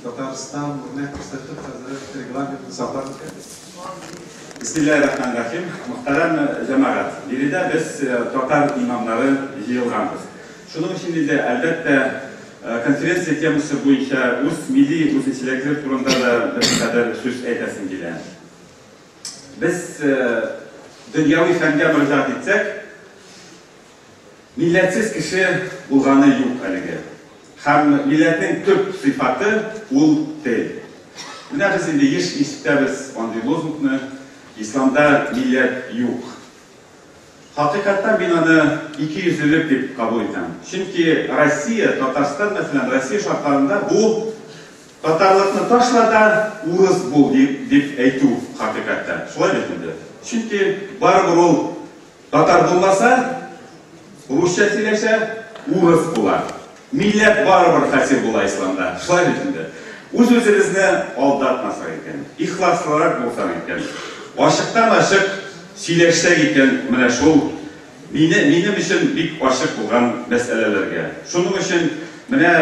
Татарстан үрнәк күрсәтеп хәзер регламентны саклар икән. Бисмиллаһир-рахманир-рахим. Мөхтәрәм җәмәгать, биредә без э, татар имамнары җыелганбыз. Шуның өчен инде, әлбәттә, э, конференция темасы буенча үз милли үзенчәлекләр турында да бер кадәр сүз әйтәсем килә. Без э, дөньяви фәнгә мөрәҗәгать итсәк, Милләтсез кеше булганы юк әлеге. Һәм милләтнең төп сыйфаты, ул тел. Менә без инде еш ишетәбез андый лозунгны, Исламда милләт юк. Хакыйкатьтән мин аны икейөзлелек дип кабул итәм. Чөнки Россия, Татарстан, мәсәлән, Россия шартларында бу татарлыкны ташла да, урыс бул, дип әйтү хакыйкатьтән. Шулай бит инде. Чөнки барыбер ул. Татар булмаса, русча сөйләшә, урыс була. Милләт барыбер хасил була исламда. Шулай бит инде. Үз-үзебезне алдатмасак икән, ихласлырак булсак икән, ачыктан-ачык сөйләшсәк икән, менә шул мине, минем өчен бик ачык булган мәсьәләләргә. Шуның өчен Менә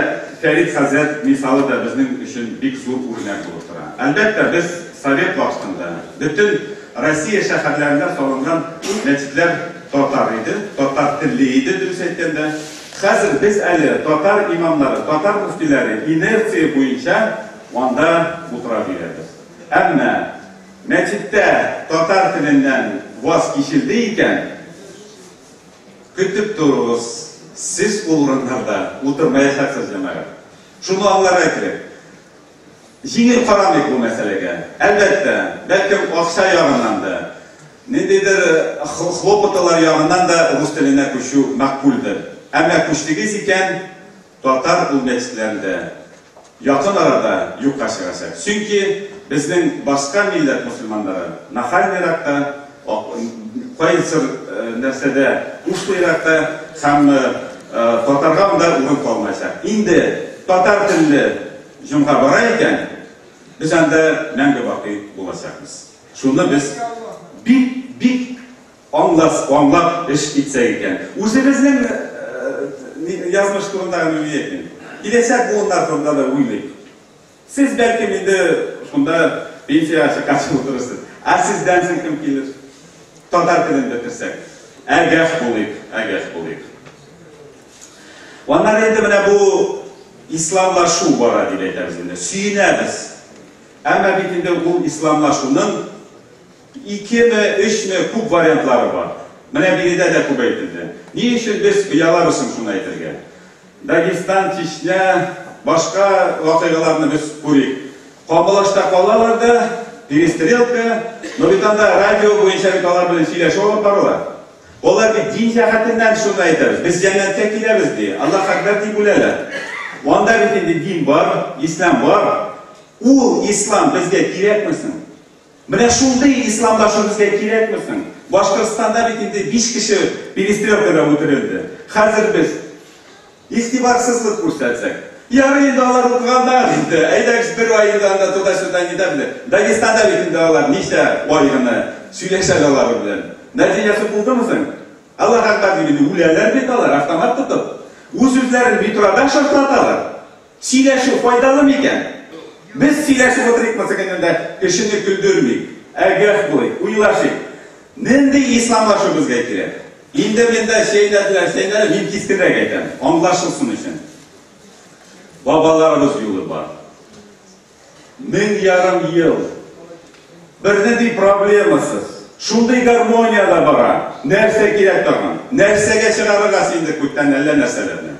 Фәрит хәзрәт мисалы да безнең өчен бик зур үрнәк булып тора. Әлбәттә, без совет вакытында бөтен Россия шәһәрләрендә салынган мәчетләр татар иде, татар телле иде, дөрес әйткәндә. Хәзер без әле татар имамнары, татар мөфтиләре инерция буенча анда утыра бирәбез. Әмма мәчеттә татар теленнән ваз кичелде икән, Көтеп торуыз, сез ул урыннарда утырмаячаксыз, җәмәгать. Шуны аңларга кирәк. Җиңел карамыйк бу мәсьәләгә. Әлбәттә, бәлкем акча ягыннан да, ниндидер хлопоталар ягыннан да рус теленә күчү мәгъкульдер. Әмма күчтегез икән, Татар бүлмәчеләрен дә якын арада юкка чыгачак. Чөнки безнең башка милләт мөселманнары нахальныйрак та, кайсыр нәрсәдә ушлыйрак та һәм татарга анда урын калмаячак. Инде татар телле җомга бара икән, без анда мәңге бакый булачакбыз. Шуны без бик, бик Аңлас, аңлап эш итсәк икән. Үзебезнең язмыш турында гына уйлый идем. Киләчәк буыннар турында да уйлыйк. Сез, бәлкем, инде шунда пенсиягә чыкканчы утырырсыз. Ә сездән соң кем килер? Татар телен бетерсәк. Әгәш булыйк, әгәш булыйк. Аннары инде менә бу исламлашу бара дип әйтәбез инде. Сөенәбез. Әмма бит инде ул исламлашуның Икеме, өчме, күп вариантлары бар. Менә биредә дә күп әйтелде. Ни өчен без оялабыз соң шуны әйтергә? Дагестан, Чечня, башка вакыйгаларны без күрик. Камбалашта калалар да, перестрелка, но бит анда радио буенча бит алар белән сөйләшү алып барыла. Алар бит дин җәһәтеннән шуны әйтәбез, без җәннәткә киләбез ди, Аллаһ әкбәр дип үләләр. Анда бит инде дин бар, ислам бар. Ул ислам безгә кирәкме соң? Менә шундый исламдашы безгә кирәкме соң? Башкортстанда бит инде биш кеше перестрелкада үтерелде. Хәзер без игътибарсызлык күрсәтсәк. Ярый инде алар укыганнар инде, әйдәгез бер ай инде анда туда-сюда не да белән. Дагестанда бит инде алар ничә ай гына сөйләшә алары белән. Нәтиҗәсе булдымы соң? Аллаһы әкбәр дип инде үләләр бит алар автомат тотып. Үз-үзләрен метрода шартлаталар. Сөйләшү файдалы микән? Без сөйләшеп утырыйк булса кемнеңдә, кешене көлдермик, ә гәф булыйк, уйлашыйк. Нинди исламлашу безгә кирәк? Инде миндә чәйнәделәр, чәйнәделәр, мин кискенрәк әйтәм, анлашылсын өчен. Бабаларыбыз юлы бар. Мең ярым ел. Берни ди проблемасыз. Шундый гармониядә бара. Нәрсә кирәк тагын? Нәрсәгә чыгарырга синдек күктән әллә нәрсәләрне?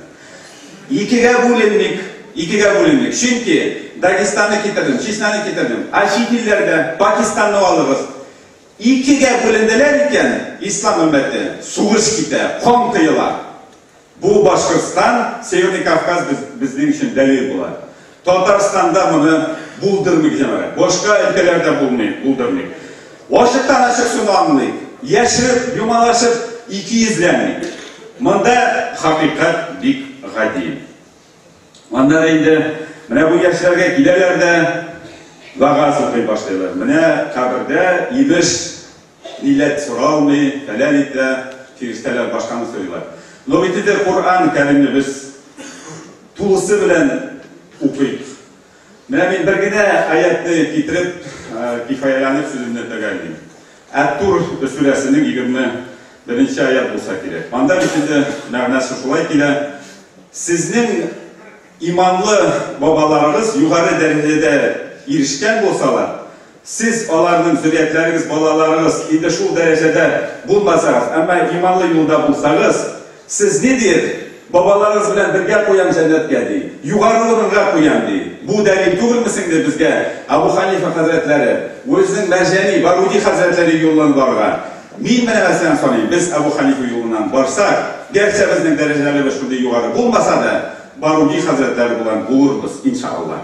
Икегә бүленмик. Икегә бүленмик. Чөнки Дагестанны китердем, Чечняны китердем. Ә чит илләрдә Пакистанны алыгыз. Икегә бүленделәр икән, ислам өммәте, сугыш китә, кан коела. Бу Башкортстан, Северный Кавказ безнең өчен дәлил була. Татарстанда моны булдырмыйк, җәмәгать. Башка өлкәләрдә булмый, булдырмыйк. Ачыктан-ачык шуны аңлыйк. Яшереп, юмалашып, икейөзләнмик. Монда хакыйкать бик гади. Монда да инде менә бу яшьләргә киләләр дә вагаз укый башлыйлар. Менә кабердә имеш Милләт соралмый, фәлән итә, фирештәләр башканы сорыйлар. Но бит инде Коръән Кәримне без тулысы белән укыйк. Менә мин бер генә аятьне китереп, кифаяләнеп сүземне төгәллим. Әт-Тур сүрәсенең 21 нче аять булса кирәк. Анда бит инде мәгънәсе шулай килә, Сезнең Иманлы бабаларыгыз югары дәрәҗәдә ирешкән булсалар, сез, аларның зөриятләрегез, балаларыгыз инде шул дәрәҗәдә булмасагыз, әмма иманлы юлда булсагыз, сез ни диер? Бабаларыгыз белән бергә куям җәннәткә, ди. Югары урынга куям, ди. Бу дәлил түгелме соң, ди, безгә Абу Ханифа хәзрәтләре, үзенең мәрҗани Баруди хәзрәтләре юлын барган. Мин менә мәсәлән саныйм, без Әбу Хәнифә юлыннан барсак, гәрчә безнең дәрәҗәлебез шундый югары булмаса да, баруни хәзрәтләре булган булырбыз, иншаАллаһ.